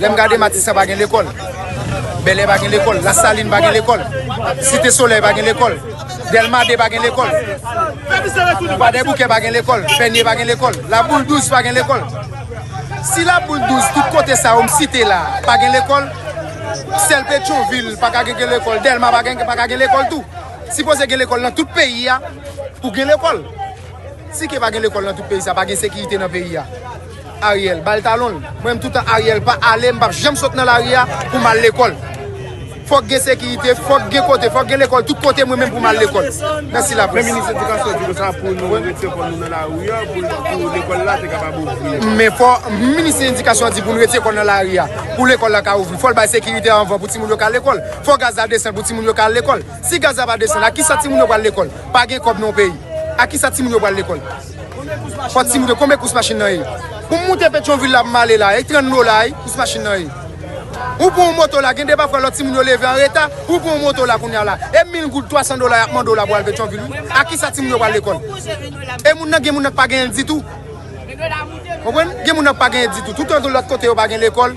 Lè m gade Matisan pa gen lekòl, Bèlè pa gen lekòl, Lasalin pa gen lekòl, Site Solèy pa gen lekòl, Dèlma 2 pa gen lekòl, Kwadèboukè pa gen lekòl, Pènye pa gen lekòl, Laboul 12 pa gen lekòl. Si Laboul 12, tout kote sa yo m site la a, pa gen lekòl, sèl Petyonvil pa ka gen gen lekòl, Dèlma pa gen pa ka gen lekòl tou. Sipoze gen lekòl nan tout peyi a pou gen lekòl. Si ke pa gen lekòl nan tout peyi sa, pa gen sekirite nan peyi a. Ariel bal talon l. Mwen menm toutan Ariel pa ale m pap janm sot nan lari a pou m al lekòl. Fòk gen sekirite, fòk gen kote, fòk gen lekòl tout kote mwen menm pou m al lekòl. Mèsi laprès. Men minis edikasyon di konsa pou nou retire kò nou nan lari a pou lekòl la te kapab ouvri. Men fò minis edikasyon di pou nou retire kò nou nan lari a pou lekòl la ka ouvri. Fò l bay sekirite anvan pou timoun yo ka lekòl. Fò gaz la desann pou timoun yo ka al lekòl. Si gaz la pa desann a kisa timoun yo pral lekòl? Pa gen kòb nan yon peyi. A kisa timoun yo pral lekòl? Fort Simito konbyen kous machin nan ye? Pou m moute Petyonvil la pou m ale la, e 30 dola wi kous machin nan ye. Ou pran yon moto la, gen de pafwa lòt timoun yo leve an reta, ou pran yon moto la kounye a la, e 1000 goud, 300 dola y ap mande w la pou al Petyonvil wi. Ak ki sa timoun yo pral lekòl? E moun nan gen moun nan k pa genyen ditou. Konprann? Gen moun nan k pa genyen ditou. Toutotou lòt kote yo pa gen lekòl.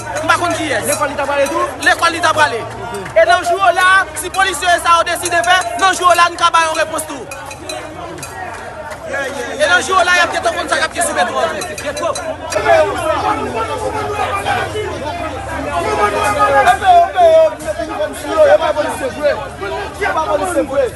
M pa konn kiyès. Lekòl li ta prale tou? Lekòl li ta prale. E nan jou yo la a, si polisye yo sa yo deside fè, nan jou yo la a n ka ba yon repons tou. E nan jou yo la a y ap gentan konn sa k ap gen sou metro an tou.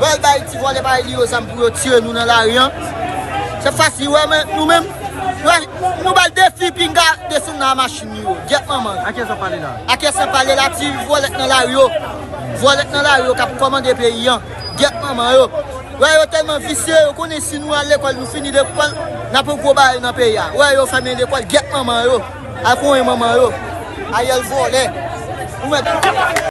Bal bay ti vole bay li yo zam pou yo tiye nou nan lari an. Se fas li wè men nou menm. Nou bal defi pinga desann nan machin li yo. Gyèt manman. Ake san pale la. Ake san pale la ti vole nan lari yo. Vole nan lari yo kap komande peyi an. Gyèt manman yo. Wè yo telman visye yo konnen si nou al lekol nou fini lekol nap yon gwo bagay nan peyi a. Wè yo femen lekol gyèt manman yo. Al konyen manman yo. Ariel vole. Ou met.